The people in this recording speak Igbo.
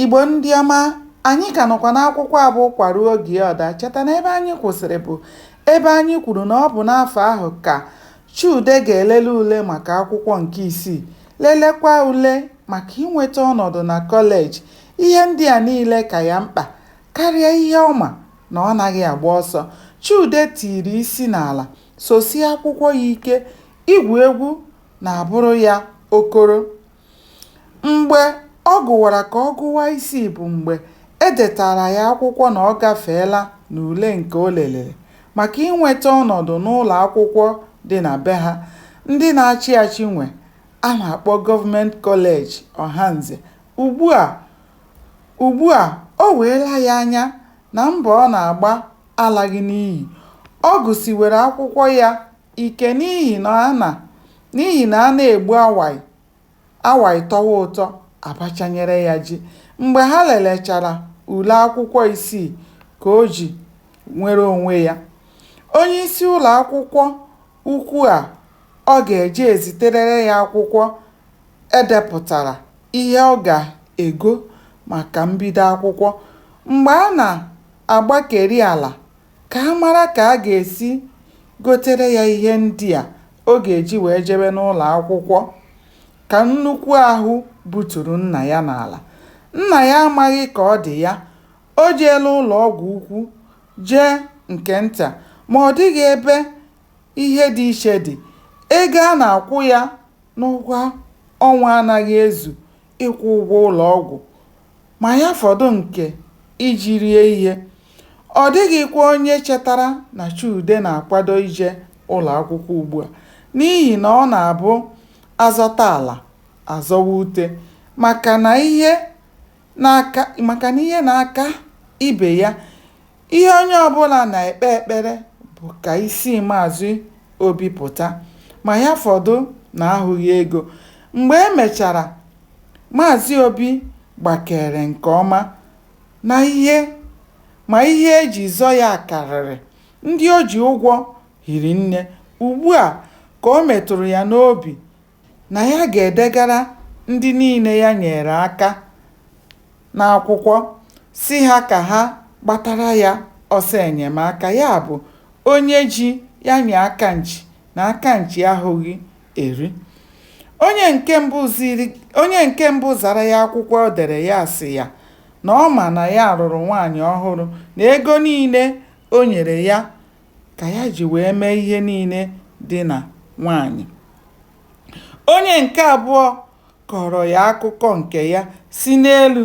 Igbo ndị ọma, anyị ka nọkwa n'akwụkwọ a bụ Ụkwa ruo oge ọ daa. Cheta na ebe anyị kwụsịrị bụ ebe anyị kwuru na ọ bụ n'afọ ahụ ka Chude ga-elele ule maka akwụkwọ nke isii, lelekwa ule maka inweta ọnọdụ na kọleji. Ihe ndị a niile ka ya mkpa karịa ihe ọ ma na ọ naghị agba ọsọ. Chude tiri isi n'ala, sosie akwụkwọ ya ike, igwu egwu na-abụrụ ya okoro. Mgbe ọ gụwara ka ọ gụwa isi bụ mgbe e detaara ya akwụkwọ na ọ gafeela n'ule nke o lelere maka inweta ọnọdụ n'ụlọ akwụkwọ dị na be ha ndị na-achị achị nwe a na-akpọ Government College Ohanze. Ugbua, ugbua, o weela ya anya na mbọ ọ na-agba alaghị n'iyi. Ọ gụsiwere akwụkwọ ya ike n'ihi na a na N'ihi na a na-egbu awaị, awaị tọwa ụtọ, a bachanyere ya ji. Mgbe ha lelechara ule akwụkwọ isii ka o ji nwere onwe ya, onyeisi ụlọ akwụkwọ ukwu a ọ ga-eje eziterere ya akwụkwọ e depụtara ihe ọ ga-ego maka mbido akwụkwọ. Mgbe a na-agbakeri ala ka a mara ka a ga-esi gotere ya ihe ndị a ọ ga-eji wee jebe n'ụlọ akwụkwọ ka nnukwu ahụ buturu nna ya n'ala. Nna ya amaghị ka ọ dị ya. O jeela ụlọ ọgwụ ukwu, jee nke nta, ma ọ dịghị ebe ihe dị iche dị. Ego a na-akwụ ya n'ụgwọ ọnwa anaghị ezu ịkwụ ụgwọ ụlọ ọgwụ. ma ya fọdụ nke iji rie ihe. Ọ dịghịkwa onye chetara na Chude na-akwado ije ụlọ akwụkwọ ugbu a n'ihi na ọ na-abụ a zọta ala, a zọwa ute maka na ihe na-aka maka na ihe na-aka ibe ya Ihe onye ọbụla na-ekpe ekpere bụ ka isi Maazị Obi pụta ma ya fọdụ na ahụghị ego. Mgbe e mechara, Maazị Obi gbakeere nke ọma na ihe ma ihe e ji zọ ya karịrị. Ndị o ji ụgwọ hiri nne. Ugbua ka o metụrụ ya n'obi na ya ga-edegara ndị niile ya nyeere aka n'akwụkwọ sị ha ka ha gbatara ya ọsọ enyemaka, ya bụ onye ji ya nye aka nchi na aka nchi ahụghị eri. Onye nke mbụ zara ya akwụkwọ o dere ya sị ya na ọ ma na ya lụrụ nwaanyị ọhụrụ na ego niile o nyere ya ka ya ji wee mee ihe niile dị na nwaanyị onye nke abụọ kọọrọ ya akụkọ nke ya si n'elu